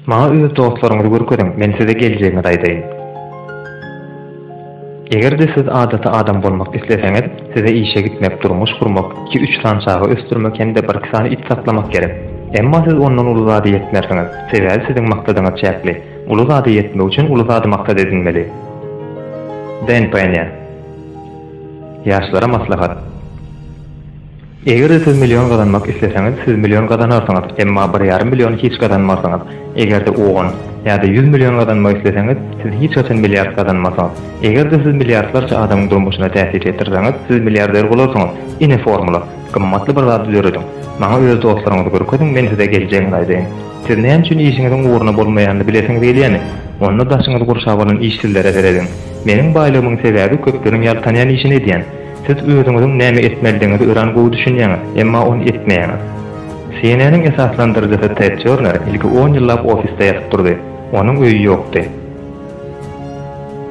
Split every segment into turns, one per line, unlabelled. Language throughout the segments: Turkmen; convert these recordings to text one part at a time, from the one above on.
Maňa öz dostlaryňyzy görkeziň, men size geljegiňizi aýdaýyn. Eger-de siz adaty adam bolmak isleseňiz, size işe gitmek, durmuş gurmak, iki-üç sany çaga ösdürmek hem-de bir-iki sany it saklamak gerek. Emma siz ondan uly zada ýetmersiňiz, sebäbi siziň maksadyňyz çäkli. Uly zada ýetmek üçin uly zady maksat edinmeli. Dän Penýa. Ýaşlara maslahat. Eger-de siz million gazanmak isleseňiz, siz million gazanarsyňyz, emma bir ýarym milliony hiç gazanmarsyňyz. Eger-de on ýa-da ýüz million gazanmak isleseňiz, siz hiç haçan milliard gazanmarsyňyz. Eger-de siz milliardlarça adamyň durmuşyna täsir ýetirseňiz, siz milliarder bolarsyňyz. Ine formula. Gymmatly bir zady dörediň. Maňa öz dostlaryňyzy görkeziň, men size geljegini aýdaýyn. Siz näme üçin işiňiziň ugruna bolmaýanyny bilesiňiz gelýärmi? Onda daşyňyzy gurşap alan işsizlere serediň. Meniň baýlygymyň sebäbi köpleriň ýaltanýan işini edýän. Siz özüňiziň näme etmeldigiňizi örän gowy düşünýäňiz, emma ony etmeýäňiz. CNN-iň esaslandyryjysy Ted Tjorner ilki on ýyllap ofisde ýatyp durdy. Onuň öýi ýokdy.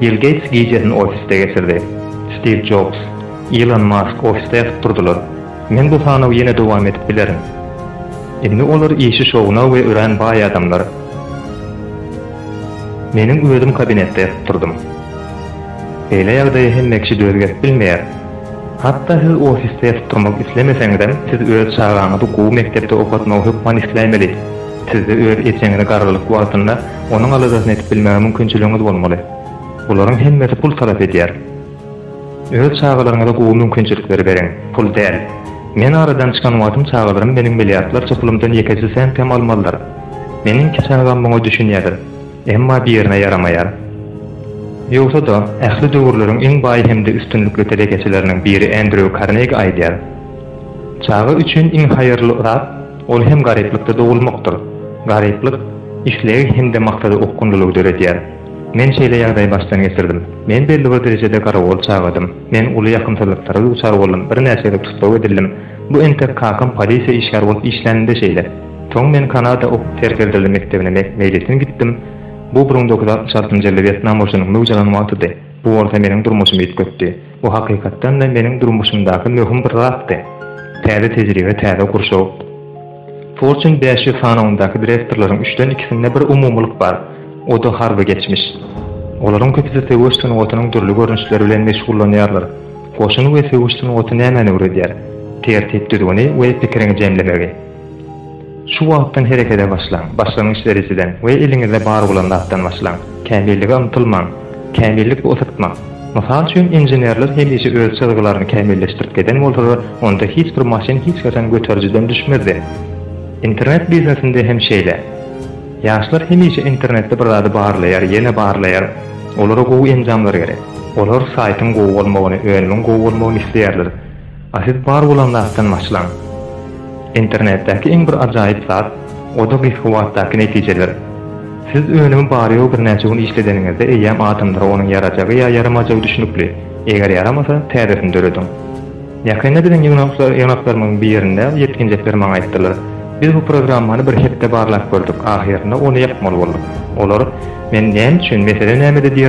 Bill Geýts gijesini ofisde geçirdi. Stiw Jobs, Ilon Mask ofisde ýatyp durdylar. Men bu sanawy ýene dowam edip bilerin. Indi olar işi şowuna we örän baý adamlar. Meniň özüm kabinetde ýatyp durdum. Beýle ýagdaýa hemme kişi döz gelip bilmeýär. Hatda siz ofisde ýatyp durmak islemeseňizem, siz öz çagaňyzy gowy mekdepde okatmagy hökman isläýmeli. Sizde öz ejeňizi garrylyk wagtynda onuň aladasyny edip bilmäge mümkinçiligiňiz bolmaly. Bularyň hemmesi pul talap edýär. Öz çagalaryňyza gowy mümkinçilikleri beriň, pul däl. Men aradan çykan wagtym çagalarym meniň milliardlarça pulumdan ýekeje sent hem almazlar. Meniň iki çagam muňa düşünýärler. Emma birine ýaramaýar. Ýogsa-da, ähli döwürleriň iň baý hem-de üstünlikli telekeçileriniň biri Andrew Carnegie aýdýar, Çaga üçin iň haýyrly zat, ol hem garyplykda dogulmakdyr. Garyplyk islegi hem-de maksada okgunlylygy döredýär. Men şeýle ýagdaýy başdan geçirdim. Men belli bir derejede garawul çagadym. Men uly ýakymsyzlyklara duçar boldum, birnäçe gezek tussag edildim. Bu entek kakam polisiýa işgäri bolup işläninde şeýle. Soň men Kanada okup terk edildi mekdebine meýletin gitdim. Bu bir müň dokuz ýüz altmyş altynjy ýylda Wýetnam urşunyň möwjalan wagtydy. Bu bolsa meniň durmuşymy üýtgetdi. Bu hakykatdan-da meniň durmuşymdaky möhüm bir zatdy. Täze tejribe, täze gurşaw. Fortune bäş ýüz sanawyndaky direktorlaryň üçden ikisinde bir umumylyk bar. O-da harby geçmiş. Olaryň köpüsi söweş sungatynyň dürli görnüşleri bilen meşgullanýarlar. Goşun we söweş sungaty nämäni öwredýär? Tertip-düzgüni we pikiriňi jemlemegi. Şu wagtdan herekete başlaň, başlangyç derejeden we eliňizde bar bolan zatdan başlaň. Kämillige ymtylmaň. Kämillik bu ysytmak. Mysal üçin, inženerler hemişe öz çyzgylaryny kämilleşdirip geden bolsalar, onda hiç bir maşyn hiç haçan göterijiden düşmezdi. Internet biznesinde hem şeýle. Ýaşlar hemişe internetde bir zady barlaýar, ýene barlaýar. Olara gowy enjamlar gerek. Olar saýtyň gowy bolmagyny, önümiň gowy bolmagyny isleýärler. A siz bar bolan zatdan başlaň. Internetdäki iň bir ajaýyp zat, o-da gysga wagtdaky netijeler. Siz önümi bary-ýogy birnäçe gün işledeniňizde eýýäm adamlara onuň ýarajagy ýa ýaramajagy düşnükli. Eger ýaramasa, täzesini dörediň. Ýakynda biziň ýygnaklarymyň birinde ýetginjekler maňa aýtdylar, Biz bu programmany bir hepde barlap gördük, ahyrynda ony ýapmaly bolduk. Olar, Men näme üçin, mesele nämede? diýerler.